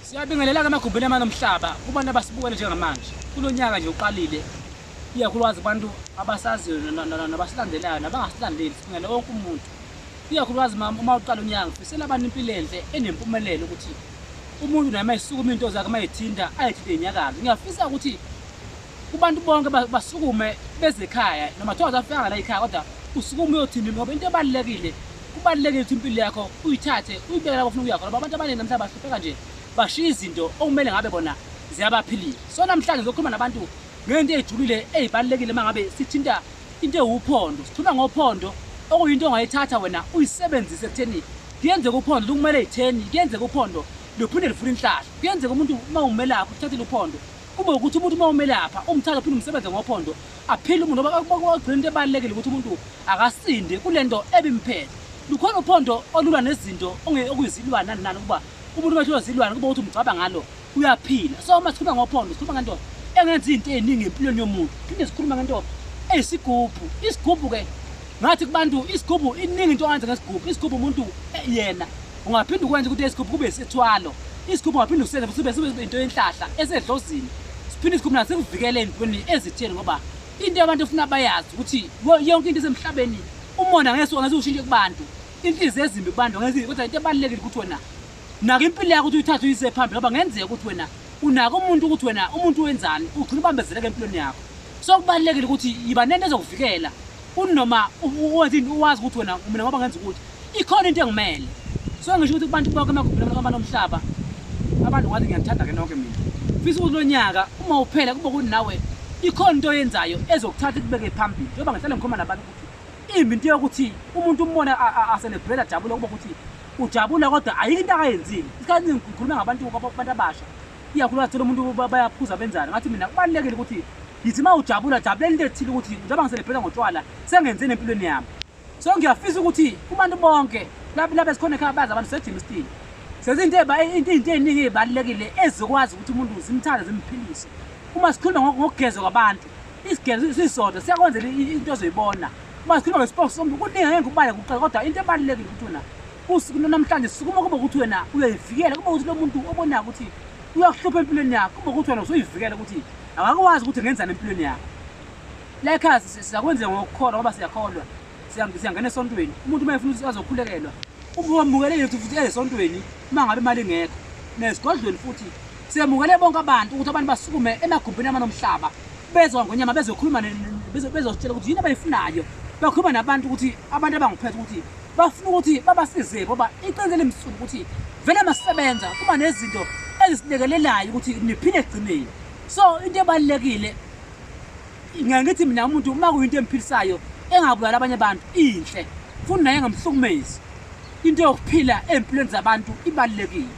Siyabingelela-ke emagumbini amane omhlaba kubantu abasibukele njengamanje kulo nyaka nje uqalile ikakhulukazi kubantu abasaziyo nabasilandelayo nabangasilandeli sibingele wonke umuntu ikakhulukazi uma uqala unyaka ngifisela abantu impilo enhle enempumelelo ukuthi umuntu naye uma esukuma into zakhe uma ethinta ayethinte inyakazi ngiyafisa ukuthi kubantu bonke ba- basukume beze ekhaya noma kuthiwa uzafika ngala ikhaya kodwa usukume uyothini ngoba into ebalulekile kubalulekile ukuthi impilo yakho uyithathe uyibeke lapho ofuna ukuya khona ngoba abantu abaningi namhla bahlupheka nje bashiya izinto okumele ngabe bona ziyabaphilile so namhlanje ngizokhuluma nabantu ngento eyijulile eyibalulekile uma ngabe sithinta into ewuphondo sithula ngophondo okuyinto ongayithatha wena uyisebenzise ekutheni kuyenzeka uphondo likumele itheni kuyenzeka uphondo luphinde lifuna inhlahla kuyenzeka umuntu uma umelaphi uthathile uphondo kube ukuthi umuntu uma umelapha umthatha phinde umsebenze ngophondo aphile umuntu ngoba kwagcina into ebalulekile ukuthi umuntu akasinde kule nto ebimphele lukhona uphondo olulwa nezinto okuyizilwane nani nani ukuba umuntu uma ehlulwa zilwane kuba ukuthi umgcaba ngalo uyaphila so uma sikhuluma ngophondo sikhuluma ngento engenza izinto ey'ningi empilweni yomuntu phinde sikhuluma ngento eyisigubhu isigubhu-ke ngathi kubantu isigubhu iningi into angenza ngesigubhu isigubhu umuntu eh, yena Ungaphinde ukwenze ukuthi isigubhu kube isithwalo. Isigubhu ungaphinde usenze futhi sibe into yenhlahla esedlozini. Siphinde isigubhu naso sikuvikele entweni ezitheni ngoba into abantu efuna bayazi ukuthi yonke into esemhlabeni umona ngeke ngeke ushintshe kubantu. Inhliziyo ezimbi kubantu ngeke kodwa into ebalulekile ukuthi wena naka impilo yakho ukuthi uyithathe uyise phambili ngoba ngenzeka ukuthi wena unaka umuntu ukuthi wena umuntu wenzani ugcina ubambezeleka empilweni yakho. So kubalulekile ukuthi yiba nento ezokuvikela kunoma uwenzini uwazi ukuthi wena mina ngoba ngenza ukuthi ikhona into engimele so ngisho ukuthi kubantu bonke emagumbini abantu omhlaba abantu ngathi ngiyanithanda ke nonke mina fisa ukuthi lo nyaka uma uphela kube ukuthi nawe ikhona into oyenzayo ezokuthatha ikubeke phambili njengoba ngihlale ngikhuluma nabantu ukuthi imbi into yokuthi umuntu umbone aselebhela jabule kuba ukuthi ujabula kodwa ayikho into akayenzile isikhathi ngikhuluma ngabantu abantu abasha iyakhuluma thola umuntu bayaphuza benzani ngathi mina kubalulekile ukuthi ngithi uma ujabula jabulela into ethile ukuthi njengoba ngiselebhela ngotshwala sengenzeni empilweni yami so ngiyafisa ukuthi kubantu bonke labe sikhona ekhaya bazi abantu sejima stile sezinto into ey'ningi ey'balulekile ezikwazi ukuthi umuntu zimthande zimphilise uma sikhuluma ngokugezwa kwabantu isigezo sisodwa siyakwenzela into ezoyibona uma sikhuluma ngesipokes somuntu kuningi ngeke ngikubale kuqala kodwa into ebalulekile ukuthi wena Usuku lwanamhlanje sukuma kube ukuthi wena uyayivikela kube ukuthi lo muntu obonako ukuthi uyakuhlupha empilweni yakho kube ukuthi wena usuyivikela ukuthi awakwazi ukuthi ngenzani empilweni yakho lekhasi siyakwenzeka ngokukholwa ngoba siyakholwa siyangena esontweni umuntu uma efuna ukuthi azokhulekelwa ubamukele yethu futhi esontweni uma ngabe imali ingekho nezigodlweni futhi siyamukele bonke abantu ukuthi abantu basukume emagumbini amane omhlaba bezwa ngonyama bezokhuluma bezositshela ukuthi yini abayifunayo bakhuluma nabantu ukuthi abantu abangiphethe ukuthi bafuna ukuthi babasize ngoba iqiniso limsulu ukuthi vele masebenza kuba nezinto ezisilekelelayo ukuthi niphile egcineni so into ebalulekile ngeke ngithi mina umuntu uma kuyinto emphilisayo engabulala abanye abantu inhle futhi naye engamhlukumezi into yokuphila ey'mpilweni zabantu ibalulekile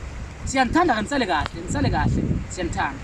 siyanithanda-ke nisale kahle nisale kahle siyanithanda